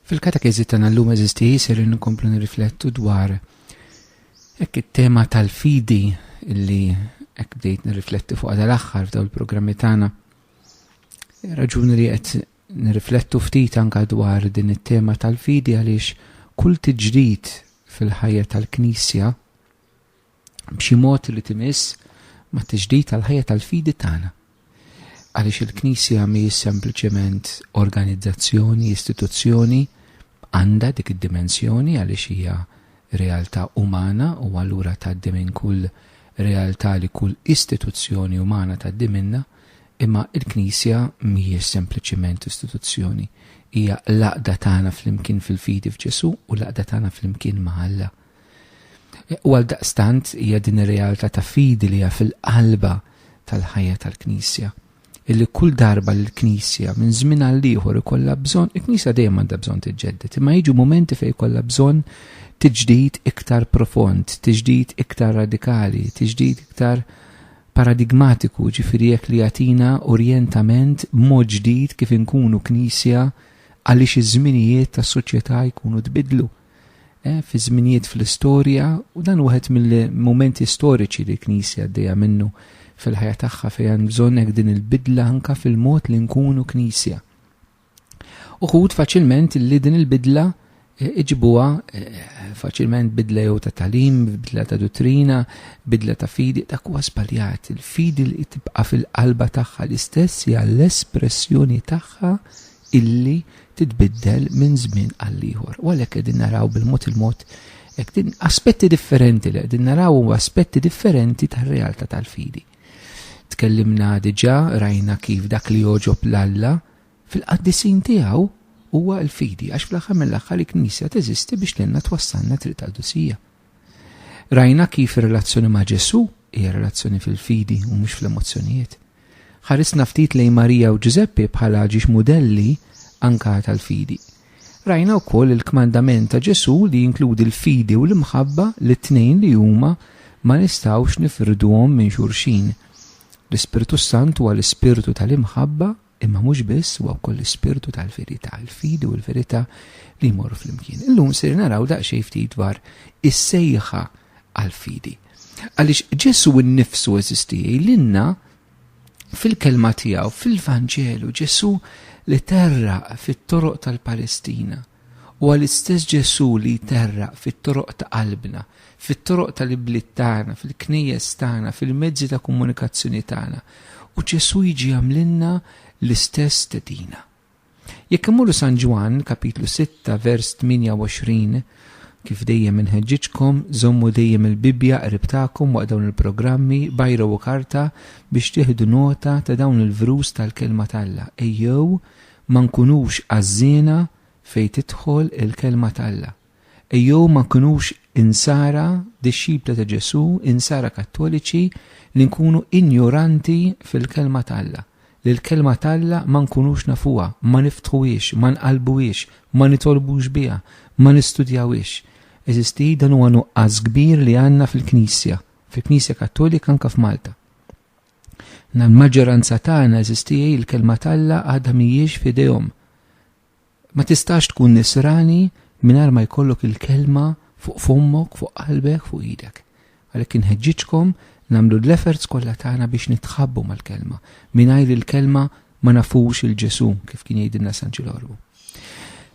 Fil-katekeżi tagħna llum eżisti ser inkomplu nirriflettu dwar hekk it-tema tal-fidi illi hekk bdejt nirrifletti fuq dal-aħħar f'daw il-programmi tagħna. Raġuni li qed nirriflettu ftit anka dwar din it-tema tal-fidi għaliex kull tiġdid fil-ħajja tal-Knisja b'xi mod li timiss ma' tiġdid tal-ħajja tal-fidi tagħna. Għaliex il-Knisja mhijiex sempliċement organizzazzjoni, istituzzjoni, għandha dik id-dimensjoni għaliex hija realtà umana u allura tgħaddi minn kull realtà li kull istituzzjoni umana tgħaddi minnha, imma il-Knisja mhijiex sempliċiment istituzzjoni, hija l-għaqda tagħna flimkien fil-fidi f'Ġesu u l-għaqda tagħna flimkien ma' Alla. U għal daqstant hija din ir-realtà ta' fidi li hija fil-qalba tal-ħajja tal-Knisja. Illi kull darba li l-Knisja minn żmien għal ieħor ikollha bżonn, il-Knisja dejjem għandha bżonn tiġġedded, imma jiġu mumenti fejn ikollha bżonn tiġdid iktar profond, tiġdid iktar radikali, tiġdid iktar paradigmatiku, ġifiri jekk li jatina orientament mod ġdid kif inkunu knisja għaliex iż-żminijiet tas-soċjetà jkunu tbidlu. eh, fi żminijiet fl-istorja u dan wieħed mill-momenti storiċi li l-Knisja għaddejja minnu fil-ħajja tagħha fejn bżonn hekk din il-bidla anka fil-mod li nkunu Knisja. Uħud faċilment li din il-bidla eh, iġibuha eh, faċilment bidla jew ta' talim, bidla ta' dottrina, bidla ta' fidi, ta' kuwa spaljat. Il-fidi li tibqa fil-qalba tagħha l-istess hija l-espressjoni tagħha illi titbiddel minn żmien għall-ieħor. U għalhekk qegħdin naraw bil-mod il-mod aspetti differenti li qegħdin naraw u aspetti differenti tar-realtà tal-fidi. Tkellimna diġà rajna kif dak li joġob l-Alla fil-qaddisin tiegħu huwa l-fidi għax fl-aħħar mill-aħħar il-Knisja teżisti biex tenna twassalna triq tal-dusija. Rajna kif ir-relazzjoni ma' Ġesù hija relazzjoni fil-fidi u mhux fl-emozzjonijiet. Ħarisna ftit lejn Marija u Ġużeppi bħala ġiex mudelli anka tal-fidi. Rajna wkoll il-kmandament ta' Ġesù li jinkludi l-fidi u l-imħabba li t-tnejn li huma ma nistgħux nifirduhom minn xulxin. L-Ispirtu s-Sant huwa l-ispirtu tal-imħabba Imma mhux biss huwa wkoll l-ispirtu tal-verità, il-fidi u l-verità li jmorru flimkien. Illum ser naraw daqsxejn ftit dwar is-sejħa għall-fidi. Għaliex Ġesu nnifsu eżisti jgħidilna fil-kelma tiegħu, fil-Vanġelu, Ġesu li terra fit-toroq tal-Palestina Huwa l-istess Ġesù li jterraq fit-toroq ta' qalbna, fit-toroq tal-ibliet tagħna, fil-knejjes tagħna, fil-mezzi ta' komunikazzjoni tagħna. U Ġesù jiġi jagħmlilna l-istess stedina. Jekk immorru San Ġwann, kapitlu 6, vers 28, Kif dejjem inħeġġiġkom, żommu dejjem il-Bibbja qrib tagħkom waqt dawn il-programmi, bajra u karta biex tieħdu nota ta' dawn il-vrus tal-Kelma t'Alla. Ejjew Ma nkunux għażżiena fejn tidħol il-Kelma t'Alla. Ejjew ma nkunux insara dixxipli ta' Ġesù, insara kattoliċi li nkunu injoranti fil-Kelma t'Alla, li l-Kelma t'Alla ma nkunux nafuha, ma niftħuhiex, ma nqallbuhiex, ma nitolbux biha, ma nistudjawhiex. Eżisti, dan huwa nuqqas kbir li għandna fil-Knisja, fil-Knisja Kattolika anke f'Malta. L-maġġoranza tagħna, għeżież tiegħi, l-Kelma t'Alla għadha mhijiex f'idejhom. Ma tistax tkun nisrani mingħajr ma jkollok il-Kelma fuq fommok, fuq qalbek, fuq idek. Għalhekk inħeġġiġkom nagħmlu l-efforts kollha tagħna biex nitħabbu mal-Kelma. Mingħajr il-Kelma Ma nafux il-Ġesu, kif kien jgħidilna San Ġilorbu.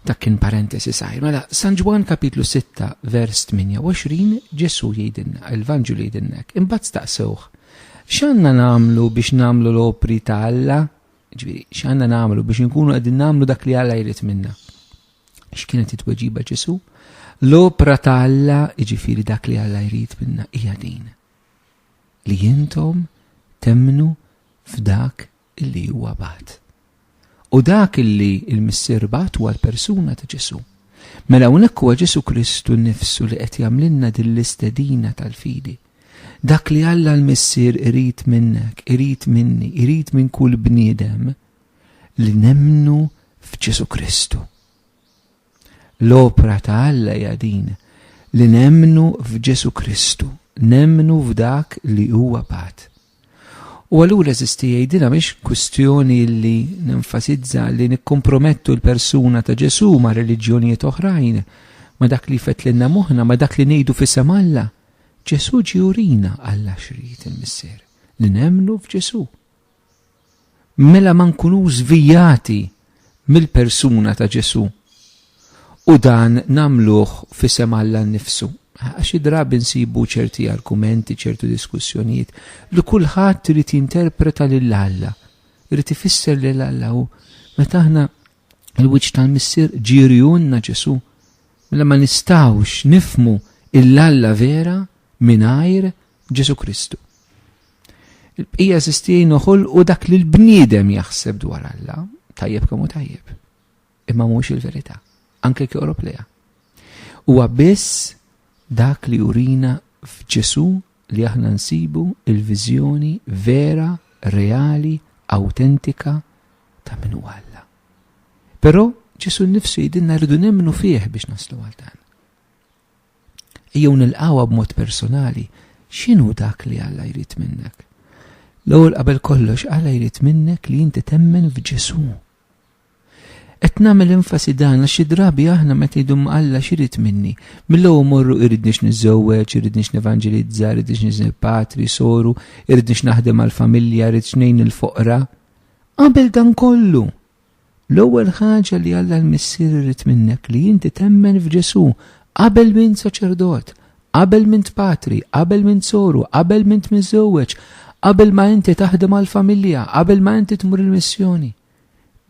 Dak kien parentesi sajr. Mela, San Ġwan kapitlu 6, vers 28, Ġesu jgħidilna, il-Vanġu li jgħidilnek, imbagħad staqsewh, x'għandna nagħmlu biex nagħmlu l-opri ta' Alla? Ġifieri, x'għandna nagħmlu biex inkunu qegħdin nagħmlu dak li Alla jrid minna? X'kienet it-tweġiba Ġesu? L-opra ta' Alla, ġifieri dak li Alla jrid minna, hija din. Li jintom temmnu f'dak li huwa bagħat. U dak li l-Missier bagħat huwa l-persuna ta' Ġesù. Mela hawnhekk huwa Ġesù Kristu nnifsu li qed jagħmlilna din l-istedina tal-fidi. Dak li Alla l-Missier irid minnek, irid minni, irid minn kull bniedem li nemmnu f'Ġesù Kristu. L-opra ta' Alla hija din li nemmnu f'Ġesù Kristu, nemmnu f'dak li huwa bagħat. U allura eżisti jgħidilha mhix kwistjoni li nenfasizza li nikkompromettu l-persuna ta' Ġesù ma' reliġjonijiet oħrajn, ma' dak li jfettlilna moħħna, ma' dak li ngħidu f'isem Alla. Ġesù ġie urina Alla x'ried il-Missier, li nemmnu f'Ġesù. mela ma nkunux żvijati mill-persuna ta' Ġesù u dan nagħmluh f'isem Alla nnifsu. Xi drabi nsibu ċerti argumenti, ċertu diskussjonijiet, li kulħadd irid jinterpreta lil Alla, irid ifisser lil Alla u meta aħna l-wiċċ tal-Missier ġieri unna Ġesù, mela ma nistgħux nifmu il-Alla vera mingħajr Ġesù Kristu. Il-bqija sistin uħol u dak li l-bniedem jaħseb dwar Alla, tajjeb kemm u tajjeb. Imma mhux il-verità, anke kjorob leha. Huwa biss dak li urina f'Ġesu li aħna nsibu il-viżjoni vera, reali, autentika ta' min huwa Alla. Però Ġesu nnifsu jidinna rridu nemmnu fih biex naslu għal dan. Ejjew nilqgħuha b'mod personali, x'inhu dak li Alla jrid minnek? L-ewwel qabel kollox Alla jrid minnek li inti temmen f'Ġesù. Qed nagħmel enfasi dan għax xi drabi aħna meta jdu ma' Alla x'irid minni, mill-ewwel morru iridniex niżżewweġ, iridniex nevanġilizza, iridniex niżel patri, soru, iridniex naħdem għall-familja, iridx ngħin il-foqra. Qabel dan kollu! L-ewwel ħaġa li Alla l-Missier irid minnek li inti temmen f'Ġesù qabel m'int saċerdot, qabel m'int patri, qabel m'int soru, qabel m'int miżżewweġ, qabel ma inti taħdem għall-familja, qabel ma inti tmur il-missjoni.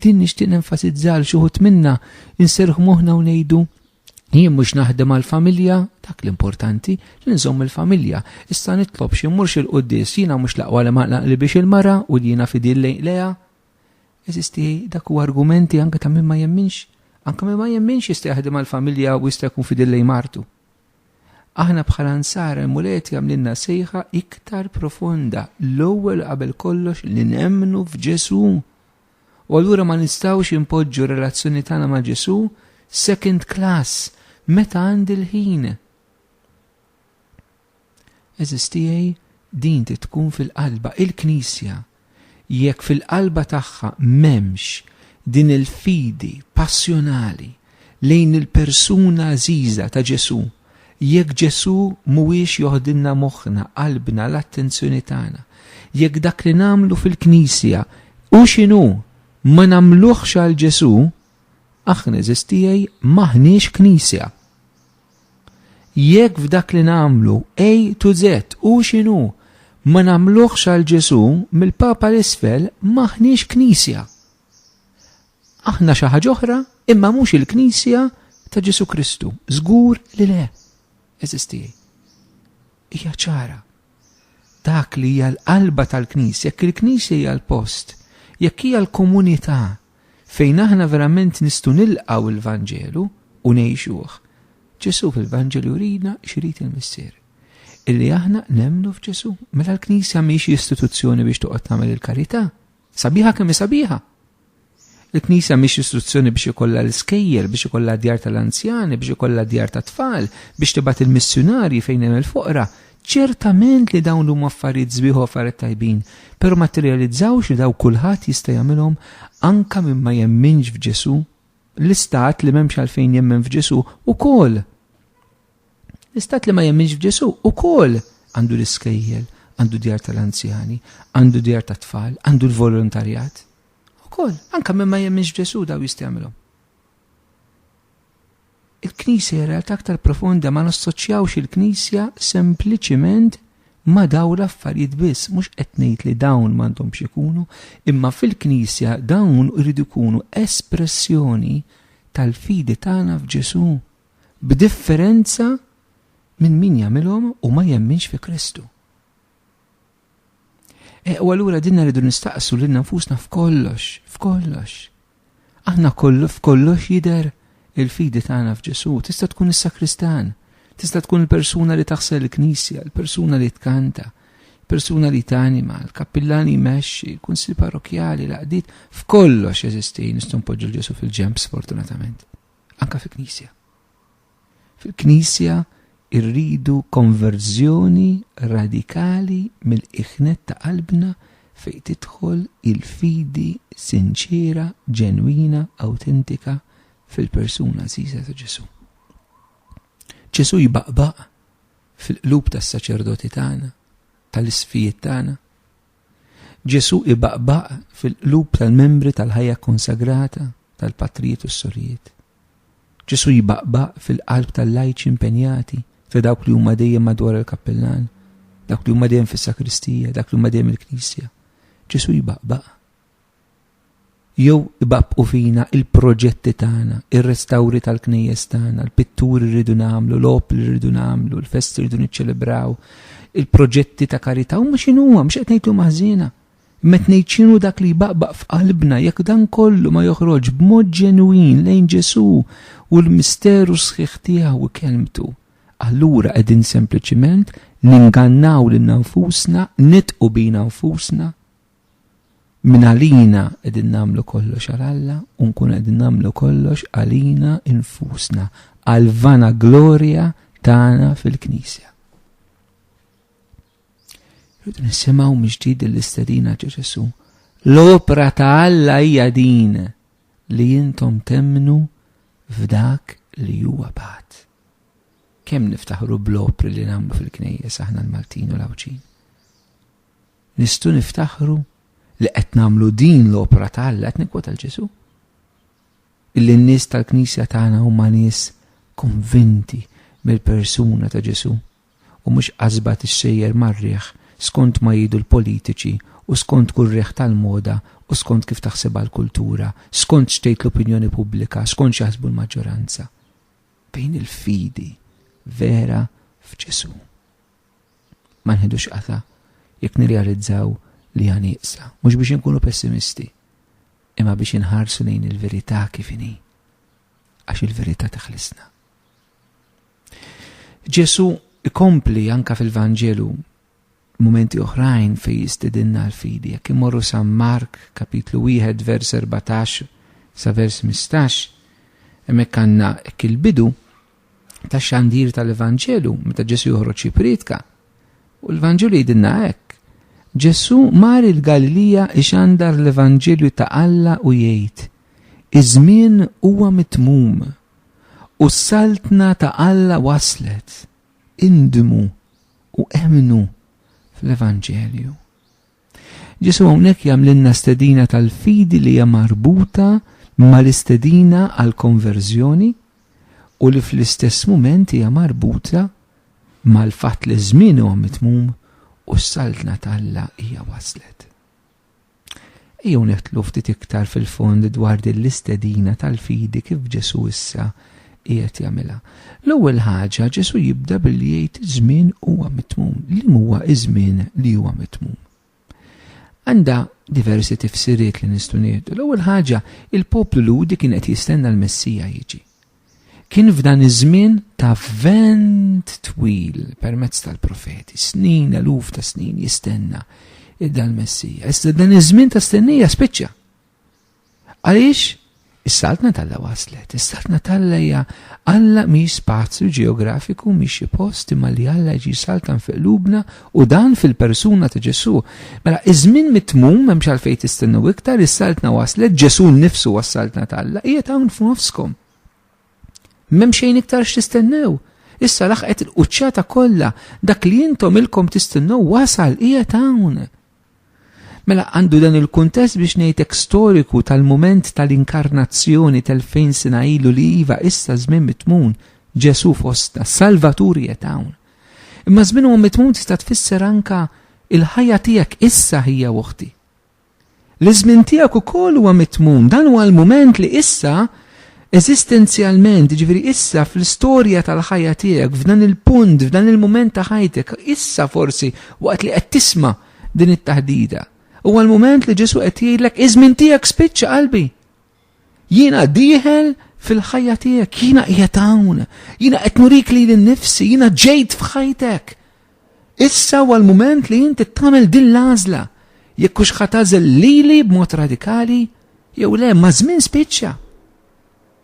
Din nixtieq nenfasizza għal xi wħud minna inserħu moħħna u ngħidu Jien mhux naħdem għal familja, dak l-importanti, li nżomm il-familja. Issa nitlob xi mmurx il-quddis, jiena mhux laqwa li maqlaqli biex il-mara u li jiena fidil lejn leja. Eżisti dak u argumenti anke ta' min ma jemminx, anke min ma jemminx jista' jaħdem għall-familja u jista' jkun fidil lejn martu. Aħna bħala nsara l-Muleti għamlinna sejħa iktar profonda, l-ewwel qabel kollox li nemmnu f'Ġesu. U allura ma nistgħux inpoġġu relazzjoni tagħna ma' Ġesu second class meta għandi l-ħin. Għeżież tiegħi, din trid tkun fil-qalba, il-Knisja. Jekk fil-qalba tagħha m'hemmx din il-fidi passjonali lejn il-persuna għażiża ta' Ġesù, jekk Ġesù mhuwiex joħdilna moħħna, qalbna, l-attenzjoni tagħna, jekk dak li nagħmlu fil-Knisja, hu x'inhu, ma nagħmluhx għal Ġesù, aħna għeżież tiegħi m'aħniex Knisja. Jekk f'dak li nagħmlu A to Z, hu x'inhu, ma nagħmluhx għal Ġesù, mill-Papa 'l isfel m'aħniex Knisja. Aħna xi ħaġa oħra imma mhux il-Knisja ta' Ġesù Kristu. Żgur li le, għeżież tiegħi. Hija ċara. Dak li hija l-qalba tal-Knisja, jekk il-Knisja hija l-post, jekk hija l-komunità Fejn aħna verament nistgħu nilqgħu l-Vanġelu u ngħixuh. Ġesù fil-Vanġelu jurina x'irid il-Missier. Illi aħna nemmnu f'Ġesù. Mela l-Knisja mhix istituzzjoni biex toqgħod tagħmel il-karità. Sabiħa kemm sabiħa. Il-Knisja mhix istituzzjoni biex ikollha l-iskejjel, biex ikollha djar tal-anzjani, biex ikollha djar tat-tfal, biex tibgħat il-missjunarji fejn hemm il-foqra, Ċertament li dawn huma affarijiet sbieħ u affarijiet tajbin, però ma tirrealizzawx li daw kulħadd jista' jagħmilhom anke min ma jemminx f'Ġesù? L-istat li m'hemmx għalfejn jemmen f'Ġesù ukoll. L-istat li ma jemminx f'Ġesù ukoll għandu l-iskejjel, għandu djar tal-anzjani, għandu djar tat-tfal, għandu l-volontarjat. Ukoll, anke min ma jemminx f'Ġesù daw jista' jagħmilhom. Il-Knisja hi realtà aktar profonda, ma nassoċjawx il-Knisja sempliċiment ma' dawn l-affarijiet biss, mhux qed ngħid li dawn m'għandhomx ikunu, imma fil-Knisja dawn iridu jkunu espressjoni tal-fidi tagħna f'Ġesù, b'differenza minn min jagħmilhom u ma jemminx fi Kristu. E, u allura dinna rridu nistaqsu lil nfusna f'kollox, f'kollox. Aħna kollu f'kollox jider il-fidi tagħna f'Ġesu, tista' tkun is-sakristan, tista' tkun il-persuna li taħsel il-knisja, il-persuna li tkanta, persuna li tanima, l-kappillan li jmexxi, il-kunsil parrokjali, l-qdid, f'kollox jeżisti nistgħu npoġġu l-Ġesu fil-ġemp sfortunatament, anka fil-knisja. Fil-Knisja rridu konverżjoni radikali mill-iħnet ta' qalbna fejn tidħol il-fidi sinċiera, ġenwina, awtentika fil-persuna għażiża ta' Ġesù. Ġesù jbaqbaq fil-qlub tas-saċerdoti tagħna, tal-isfijiet tagħna. Ġesù ibaqbaq fil-qlub tal-membri tal-ħajja konsagrata tal-patrijiet u s-sorijiet. Ġesù jbaqbaq fil-qalb tal-lajċi impenjati, ta' dawk li huma dejjem madwar il-kappillan, dawk li huma dejjem fis-sakristija, dak li huma dejjem il-knisja. Ġesù jbaqbaq. Jew ibaqbqu fina il-proġetti tagħna, ir-restawri tal-knejjes tagħna, l-pitturi rridu nagħmlu, l-op li rridu nagħmlu, l-festi rridu niċċelebraw, il-proġetti ta' karità huma x'inhuwa, mhux qed ngħidlu maħżiena. Met ngħid x'inhu dak li jbaqbaq f'qalbna jekk dan kollu ma joħroġx b'mod ġenwin lejn Ġesù u l-misteru sħiħ tiegħu u kelmtu. Allura qegħdin sempliċiment ningannaw lilna nfusna, nidqu bina nfusna. Minn għalina qegħdin nagħmlu kollox għal Alla u nkun qegħdin nagħmlu kollox għalina nfusna, għal vana glorja tagħna fil-Knisja. Jod nisimaw mġdid l-istedina ġeġessu. L-opra ta' Alla hija din li jintom temnu f'dak li huwa bat. Kemm niftaħru bl-opri li nagħmlu fil-knejjes aħna l-Maltin u l-Awċin. Nistu niftaħru li qed nagħmlu din l-opra ta' Alla qed nikwota l-Ġesu. Illi n-nies tal-Knisja tagħna huma nies konvinti mill-persuna ta' Ġesu u mhux qasba tixxejjer mar-riħ skont ma jghidu l-politiċi u skont kull riħ tal-moda u skont kif taħsibha l-kultura, skont x'tgħid l-opinjoni pubblika, skont x'jaħsbu l-maġġoranza. Fejn il-fidi vera f'Ġesù? Ma nħidux qata' jekk nirrealizzaw li hija nieqsa, mhux biex inkunu pessimisti, imma biex inħarsu lejn il-verità kif inhi, għax il-verità teħlisna. Ġesu ikompli anka fil-Vanġelu mumenti oħrajn fej jistidinna l-fidi. Jekk imorru San Mark, kapitlu 1, vers 14 sa vers 15, hemmhekk għandna hekk il-bidu ta' xandir tal-Evanġelu meta Ġesu joħroġ jipritka. U l-Vanġelu jidinna hekk. Ġesu mar il-Galilija ixandar l-Evanġelju ta' Alla u jgħid, iż-żmien huwa mitmum u s-Saltna ta' Alla waslet, indmu u emmnu fl-Evanġelju. Ġesu hawnhekk jagħmlilna stedina tal-fidi li hija marbuta mal-istedina għal konverżjoni u li fl-istess mument hija marbuta mal-fatt li żmien huwa mitmum u s-saltna talla hija waslet. Ejjew nidħlu ftit iktar fil-fond dwar din l-istedina tal-fidi kif Ġesù issa qiegħed jagħmilha. L-ewwel ħaġa, Ġesù jibda billi jgħid żmien huwa mitmum. Liem huwa ż-żmien li huwa mitmum? Għandha diversi tifsiriet li nistgħu nieħdu. L-ewwel ħaġa, il-poplu Lhudi kien qed jistenna l-Messija jiġi. Kien f'dan iż-żmien ta' vent twil permezz tal-profeti, snin, eluf ta' snin jistenna id-dal-Messija. Issa dan iż-żmien ta' stennija spiċċa. Għaliex Is-saltna talla waslet, is-saltna talla hija Alla mi spazju ġeografiku mi xi post imma li Alla ġi saltan fi qlubna U dan fil-persuna ta' Ġesù. Mela, iż-żmien mitmum m'hemmx għalfejn tistennew iktar, is-Saltna waslet, Ġesù nnifsu huwa s-Saltna t'Alla, qiegħed hawn f'nofskom. M'hemm xejn iktar x'tistennew. Issa laħqet il-quċċata kollha, dak li intom ilkom tistennew wasal, qiegħed hawn. Mela għandu dan il-kuntest biex ngħidlek storiku tal-mument tal-inkarnazzjoni tal-fejn sena ilu li iva issa żmien mitmun Ġesu fostna, Salvatur qiegħed hawn. Imma żmien huwa mitmun tista' tfisser anka il-ħajja tiegħek issa ħija uħti. L-iżmien tiegħek ukoll huwa mitmun, dan huwa l-mument li issa Eżistenzjalment, jiġifieri issa fl-istorja tal-ħajja tiegħek, f'dan il-punt, f'dan il-mument ta' ħajtek, issa forsi waqt li qed tisma' din it-taħdita, huwa l-mument li Ġesù qed jgħidlek, iż-żmien tiegħek spiċċa qalbi. Jiena dieħel fil-ħajja tiegħek, jiena qiegħed hawn, jiena qed nurik lili nnifsi, jiena ġejt f'ħajtek. Issa huwa l-mument li inti tagħmel din l-għażla jekk hux ħatażel lili b'mod radikali jew le ma' żmien spiċċa.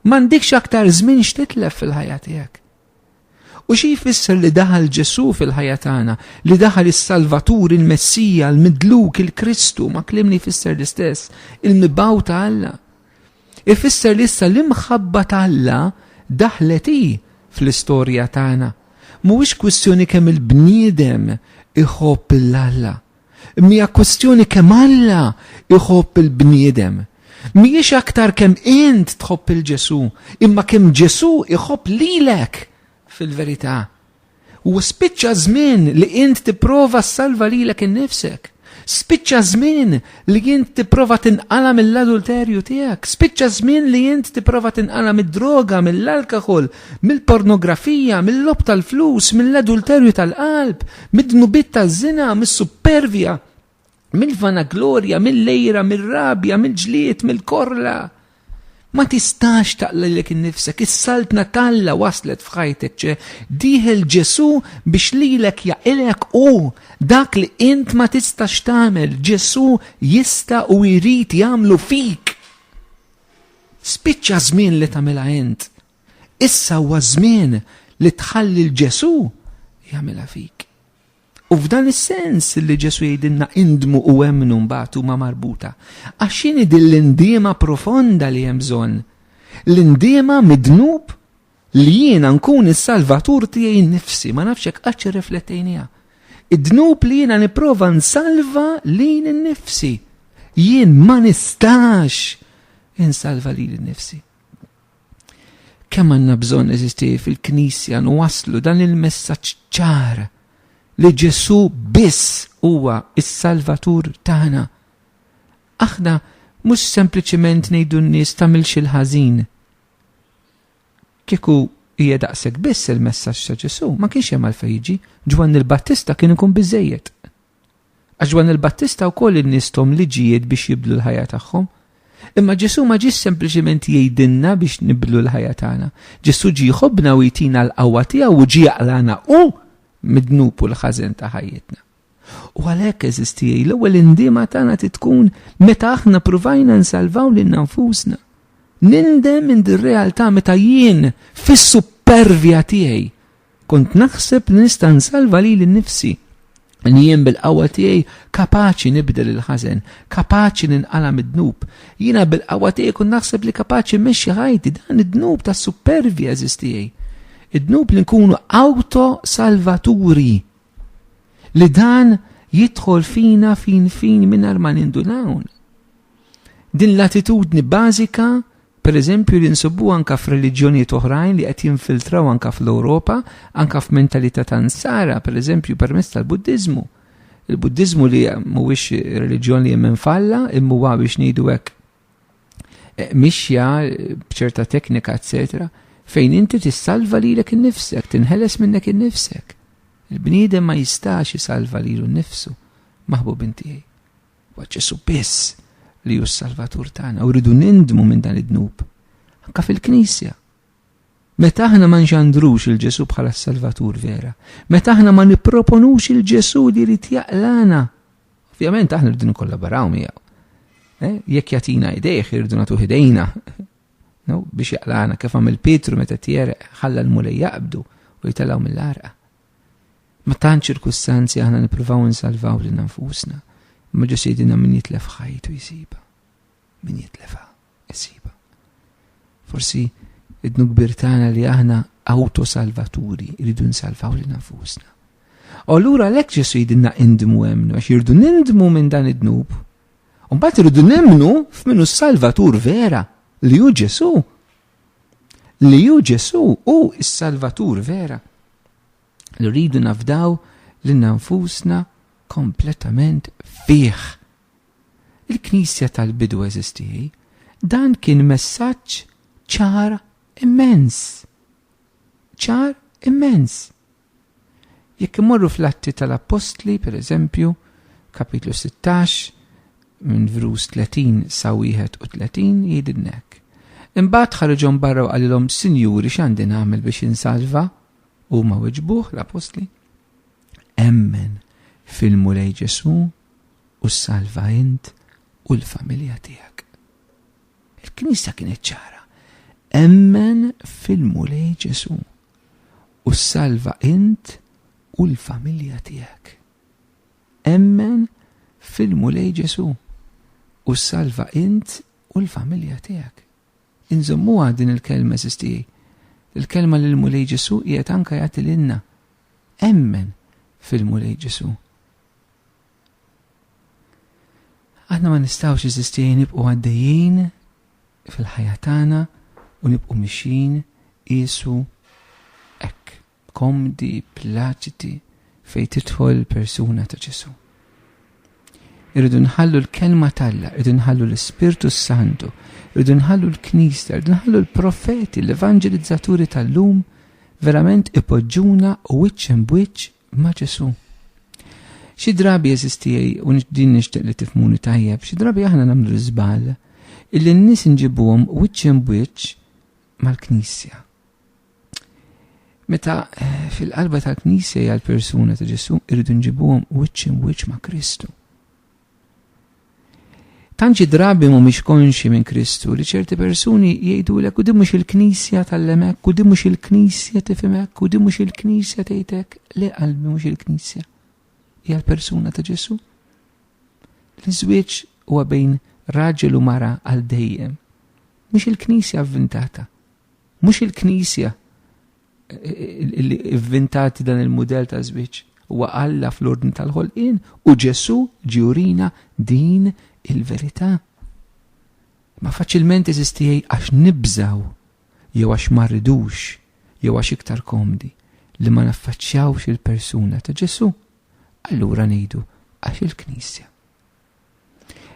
M'għandikx aktar żmien x'titlef fil-ħajja tiegħek. U xi jfisser li daħal Ġesu fil-ħajja tagħna, li daħal is-Salvatur, il-Messija, l-Midluk, il-Kristu, ma' klimni jfisser l-istess, il-mibaw ta' Alla. Ifisser li issa l-imħabba ta' Alla daħlet hi fl-istorja tagħna. Mhuwiex kwistjoni kemm il-bniedem iħobb lil Alla, imma hija kwistjoni kemm Alla iħobb il-bniedem. Mhijiex aktar kemm int tħobb il Ġesù, imma kemm Ġesù iħobb lilek fil-verità. U spiċċa żmien li int tipprova ssalva lilek innifsek. Spiċċa żmien li int tipprova tinqala mill-adulterju tiegħek. Spiċċa żmien li int tipprova tinqala mid-droga, mill-alkohol, mill-pornografija, mill-lob tal-flus, mill-adulterju tal-qalb, mid-dnubit taż-żina, mis-supervja, mill-vanaglorja, mill-lejra, mill-rabja, mill-ġlied, mill-korla. Ma tistax taqlilek innifsek, is-saltna talla waslet f'ħajtek ċe, diħel Ġesu biex lilek jaqilek u dak li int ma tistax tagħmel, Ġesu jista' u jrid jagħmlu fik. Spiċċa żmien li tagħmilha int. Issa huwa żmien li tħalli l-Ġesu jagħmilha fik. U f'dan is-sens li Ġesu jgħidilna indmu u emmnu mbagħad huma marbuta. Għax x'inhi din l-indiema profonda li hemm bżonn? L-indiema midnub li jiena nkun is-salvatur tiegħi nnifsi, ma nafx hekk qatt irriflettejniha. Id-dnub li jiena nipprova nsalva lil nnifsi. Jien ma nistax insalva lil nnifsi. Kemm għandna bżonn eżisti fil-Knisja nwasslu dan il-messaġġ ċar li Ġesu biss huwa s-Salvatur tagħna. Aħna mhux sempliċiment ngħidu n-nies tagħmilx il-ħażin. Kieku hija daqshekk biss il-messaġġ ta' Ġesu, ma kienx hemm għalfejn jiġi, Ġwanni l-Battista kien ikun biżejjed. Għax Ġwann il-Battista wkoll innisthom liġijiet biex jibdlu l-ħajja tagħhom. Imma Ġesù ma ġiex sempliċiment jgħidilna biex nibdlu l-ħajja tagħna. Ġesù ġie jħobbna u jtina l-qawwa tiegħu u ġie jaqlagħna hu mid-dnub u l-ħażen ta' ħajjitna. U għalhekk eżiż tiegħi, l-ewwel indiema tagħna trid tkun meta aħna pruvajna nsalvaw lil nfusna. Nindem minn dir-realtà meta jien fis-supervja tiegħi Kont naħseb li nista' nsalva lili nnifsi li jien bil-qawwa tiegħi kapaċi nibdel il-ħażen, kapaċi ninqala mid-dnub. Jiena bil-qawwa tiegħi kun naħseb li kapaċi mmexxi ħajti dan id-dnub ta' supervi eżis tiegħi. Id-dnub li nkunu auto salvaturi. Li dan jidħol fina fin fin mingħajr ma nindunawn. Din l-attitudni bażika pereżempju li nsibuha anke f'reliġjonijiet oħrajn li qed jinfiltraw anke fl-Ewropa, anke f'mentalità ta' nsara, pereżempju permezz tal-Buddiżmu. Il-Buddiżmu li mhuwiex reliġjon li jemmen falla, imma biex ngħidu hekk eh, mixja b'ċerta teknika, eccetera fejn inti tissalva lilek innifsek, tinħeles minnek innifsek. Il-bniedem ma jistax jisalva lilu nnifsu, maħbub intiegħi. Huwa Ġesù biss li hu s-Salvatur tagħna u rridu nindmu minn dan id-dnub. Anka fil-Knisja. Meta aħna ma nġandrux il-Ġesù bħala s-Salvatur vera, meta aħna ma nipproponux il-Ġesù li rrid jaqlana, ovvjament aħna rridu nkollaboraw miegħu. Eh, jekk jatina idejh irridu nagħtu idejna biex jaqlana kif għamil Pietru meta tjereq ħalla l-mulej jaqbdu u jitalaw mill-arqa. Ma tant ċirkustanzi aħna nippruvaw insalvaw lil nfusna, imma ġu sidina min jitlef ħajtu jsiba. Min jitlefha jsiba. Forsi idnu kbir tagħna li aħna autosalvaturi rridu nsalvaw lil nfusna. U allura lek Ġesu jidinna indmu emnu, għax jirdu nindmu minn dan id-dnub. Umbat irridu nemnu f'minu salvatur vera li hu Ġesu. li ju Ġesu u s-Salvatur vera. Li rridu nafdaw li nanfusna kompletament fih. Il-Knisja tal-bidu eżistieħi, dan kien messaġġ ċar immens. ċar immens. Jekk immorru fl-Atti tal-Appostli, per eżempju, kapitlu 16, minn vrus 30 sa 31 jgħidilna hekk. Imbagħad ħareġhom barra u qalilhom, Sinjuri, x'għandi nagħmel biex insalva? Huma weġbuh l-Appostli. Emmen fil-Mulej Ġesu u salva int u l-familja tiegħek. Il-Knisja kienet ċara. Emmen fil-Mulej Ġesu u ssalva int u l-familja tiegħek. Emmen fil-Mulej Ġesù u ssalva int u l-familja tiegħek. Inżommuha din il-kelma sistijaj. Il-kelma li l-Mulej Ġesù qiegħed anka jagħti lilna. Emmen fil-Mulej Ġesù. Aħna ma nistgħux iżisti nibqgħu għaddejjin fil-ħajja tagħna u nibqgħu mixjin qisu hekk komdi, plaċiti fejn tidħol persuna ta' Ġesu. Irridu nħallu l-kelma talla, irridu nħallu l-Ispirtu Santu, irridu nħallu l-Knisja, irridu nħallu l-profeti, l-evangelizzaturi tal-lum, verament ipoġġuna u wiċċ bwiċċ ma' Ġesu. Xi drabi jeżistijaj u din nixtieq li tifmuni tajjeb, xi drabi aħna nagħmlu l-iżbal illi n-nies nġibuhom wiċċ bwiċċ mal-Knisja. Meta eh, fil-qalba tal-Knisja hija l-persuna ta' Ġesu irridu nġibuhom wiċċ bwiċċ ma' Kristu. Tant xi drabi mhumiex konxi minn Kristu li ċerti persuni jgħidulek u din mhux il-Knisja tal-lemek u din mhux il-Knisja tifimek u din mhux il-Knisja tgħidek le qalbi mhux il-Knisja. Hija l-persuna ta' Ġesu. L-iżwieġ huwa bejn raġel u mara għal dejjem. Mhux il-Knisja avvintata. Mhux il-Knisja li vvintat dan il-mudell ta' żwieġ huwa Alla fl-ordni tal-ħolqien u Ġesu ġiurina din il-verità. Ma faċilment eżistijaj għax nibżaw, jew għax ma rridux, jew għax iktar komdi li ma naffaċċjawx il-persuna ta' Ġesu. Allura ngħidu għax il-Knisja.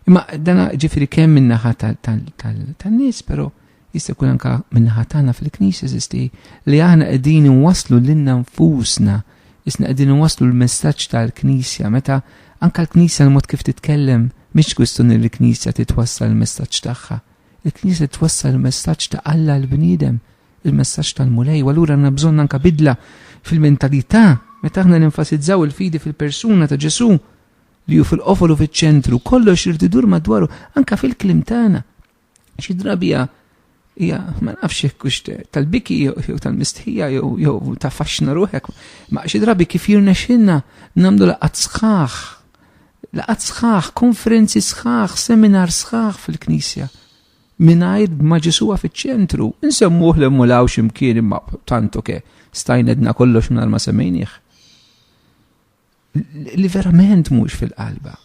Imma dana ġifiri kemm minnaħa tal-nies, pero jista' jkun anka minnaħa tagħna fil-knisja żisti li aħna qegħdin inwasslu lilna nfusna, isna qegħdin inwasslu l-messaġġ tal-knisja meta anka l-knisja l-mod kif titkellem mhix kwistjoni li l-knisja titwassal l-messaġġ tagħha. Il-knisja twassal l-messaġġ ta' Alla l-bniedem, il-messaġġ tal-Mulej, u allura għandna bżonn anka bidla fil-mentalità meta aħna nenfasizzaw il-fidi fil-persuna ta' Ġesu' li hu fil-qofol u fiċ-ċentru, kollox irid idur madwaru, anka fil-klim tagħna. Xi drabi hija ma nafx hekk hux tal-biki jew tal-mistħija jew ta' faxxna ruħek, ma xi drabi kif jirnexxilna nagħmlu laqgħat sħaħ, laqgħat sħaħ, konferenzi sħaħ, seminar sħaħ fil-Knisja. Minajr ma ġisuwa fiċ-ċentru, nsemmuh li mulaw ximkien imma tantu ke, stajnedna kollox minn ma semmejnieh. li verament mhux fil-qalba.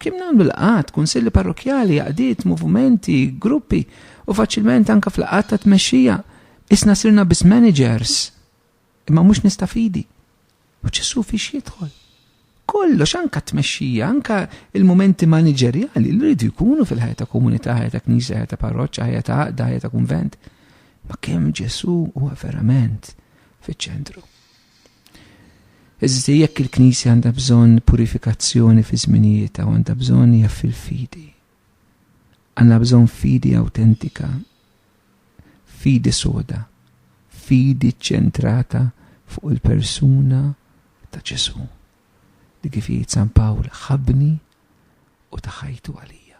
Kim nagħmlu laqat, kunsilli parrokjali, għadiet, movimenti, gruppi u faċilment anka fl-laqat ta' tmexxija isna sirna bis managers imma mhux nistafidi. U ċessu fiex jidħol. Kollox anka tmexxija, anka il-momenti manageriali li rridu jkunu fil-ħajja ta' komunità, ħajja ta' knisja, ħajja ta' parroċċa, ħajja ta' għaqda, ħajja ta' kunvent. Ma kemm Ġesu huwa verament fiċ-ċentru. Eżisti jekk il-Knisja għandha bżonn purifikazzjoni fi żminijietha u għandha bżonn hija fil-fidi. Għandha bżonn fidi awtentika, fidi soda, fidi ċċentrata fuq il-persuna ta' Ġesu. Li kif jgħid San Pawl ħabni u ta' ħajtu għalija.